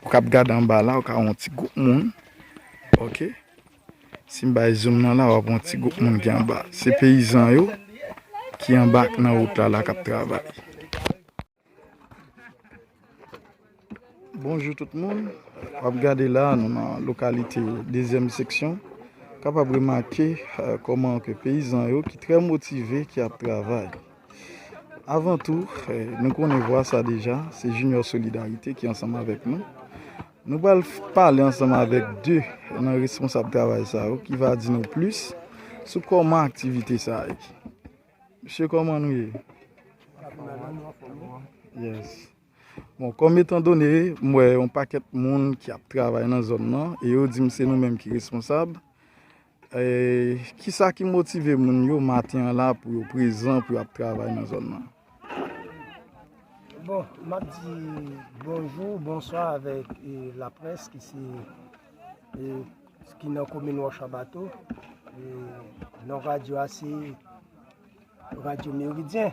Ou kap gad anba la ou ka wè yon ti group moun ok sim bay zoom nan la wap wè yon ti group moun ki anba se peyizan yo ki anba ak nan wout la la kap travay. Bonjou tout moun wap gade la nou nan lokalite dezyèm seksyon kapab remake kòman ke peyizan yo ki trè motive ki ap travay. Avan tou, nou konnen vwa sa deja, se Junior Solidarité ki ansanm avèk nou. Nou pral pale ansanm avèk 2 nan responsab travay sa yo ki va di nou plis sou kòman aktivite sa ye. Mesye kòman nou ye? Yes. Bon, kòm etan done, m wè yon pakèt moun ki ap travay nan zòn nan e yo di m se nou menm ki responsab, Kisa ki motive moun yo maten an la pou yo prezan pou yo ap travay nan zòn nan? Bon, m ap di bonjou, bonswa avèk laprès ki se, ki nan komin Wòch Anbato. Non radyo a se radyo Meridyen.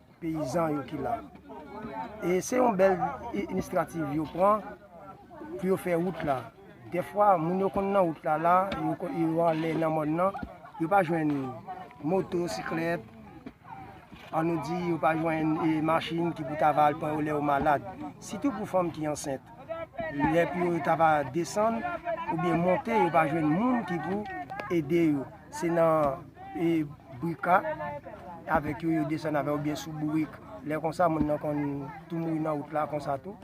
peyizan yo ki la e se yon bèl inistrativ yo pran pou yo fè wout la defwa moun yo konn nan wout la la yo anlè nan mòn nan yo pa jwenn moto, siklèt an nou di yo pa jwenn e machin ki pou ta va al pran yo lè yo malad sitou pou fanm ki ansent lè pou yo ta va desann ou byen monte yo pa jwenn moun ki pou ede yo Se nan e brika avek yo yo desann avek ou byen sou bourik. Lè konsa moun nan konn tou mouri nan wout la konsa tou.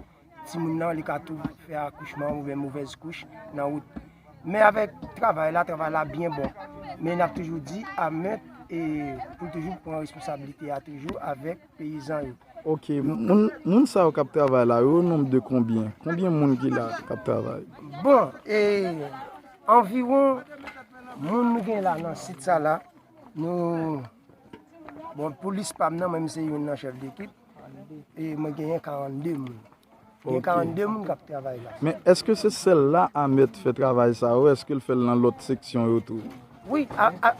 Ti moun nan li ka tou fè akouchman ou byen mouvez kouch nan wout. Men avek travay la, travay la byen bon. Men nap toujou di a men e pou toujou pran responsabilite a toujou avek peyizan yo. Ok moun sa yo kap travay la yo ononb de konbyen konbyen moun ki la kap travay. Bon e anviwon moun nou gen la nan sit sa la nou bon pou lis pam nan mwen se youn nan chèf dekip e mwen genyen 42 moun. Gen 42 moun kap travay la. Men eske se sel la amet fe travay sa ou eske l fel nan lot seksyon yo tou. Wi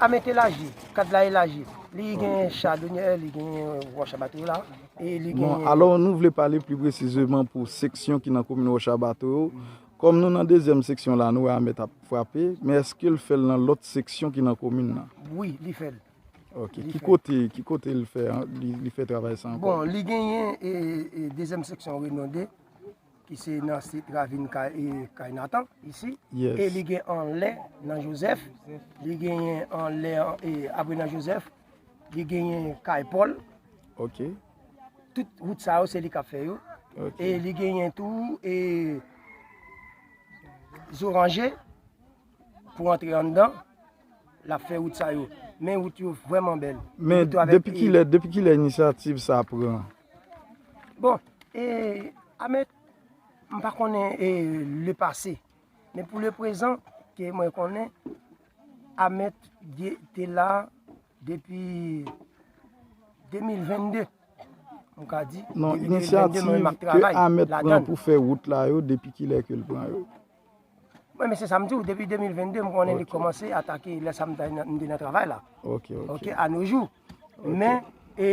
amet elaji, kad la elaji, li gen chadonyè, li gen wòch abato la, e li gen. Bon alò nou vle pale pli presizeman pou seksyon ki nan komin wòch abato yo, kòm nou nan dezyèm seksyon la nou wè amet ap frape, men eske l fèl nan lòt seksyon ki nan komin nan? Wi li fèl. Ok, ki kote, ki kote li fè, li fè travay sa ankò? Bon, li genyen e, e dezyèm seksyon Renode, ki se nan sit ravin kay, e kay Natan, isi. Yes. E li gen anlè nan Jozèf, li genyen anlè, e apre nan Jozèf, li genyen kay Pòl. Ok. Tout wout sa yo se li kap fè yo. Ok. E li genyen tou, e zoranje. pou antre anndan, l ap fè wout sa yo. Men wout yo vrèman bèl. Men depi ki lè, depi ki lè inisyativ sa pran? Bon, e, Ameth, m pa konnen e le pase. Men pou le prezan, ke mwen konnen, Ameth di te la depi 2022. M ka di, depi 2022 mwen ap travay. Non, inisyativ ke Ameth pran pou fè wout la yo, depi ki lè ke l pran yo? Mwen men se sa m di w depi 2022 m konnen li kòmanse atake lè sa m te nan travay la. Ok ok. Ok a no jou. Men e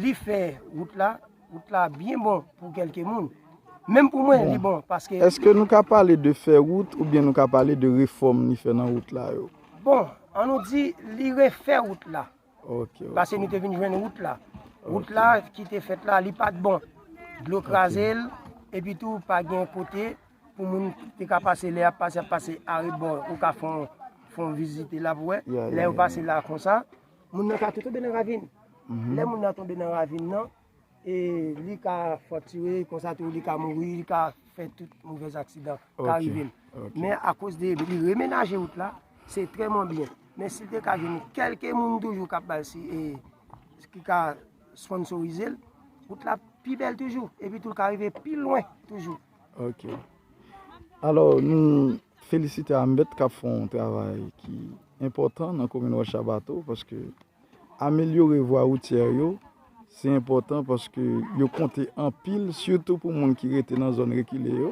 li fè wout la, wout la byen bon pou kelke moun. Menm pou mwen li bon paske. Eske nou ka pale de fè wout oubyen nou ka pale de refòm li fè nan wout la yo? Bon an nou di li refè wout la. Pase nou te vin jwenn wout la. Wout la ki te fèt la, li pa t bon. Dlo kraze l, epi tou pa gen kote pou moun te ka pase lè y ap pase, y ap pase arebò ou ka fè yon vizite la pou wè. Lè yo pase la konsa, moun nan ka tou tonbe nan ravin. Lè moun nan tonbe nan ravin nan, E li ka fraktire, konsa tou li ka mouri, li ka fè tout mouvèz aksidan ka rive l. Men akoz de li remenaje wout la, se trèman byen. Men si l te ka jwenn kèlke moun toujou k ap ba l si e ki ka sponnsorize l, wout la ap pi bèl toujou. Epi tou l ka rive pi lwen toujou. Ok. Alò nou felisite AMBET k ap fè yon travay ki enpòtan nan komin Wòch Abato paske Amelyore vwa woutyè yo se enpòtan paske yo konte anpil sitou pou moun ki rete nan zòn rekile yo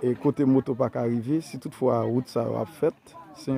e kote moto pa ka rive si tout fwa wout sa yo ap fèt.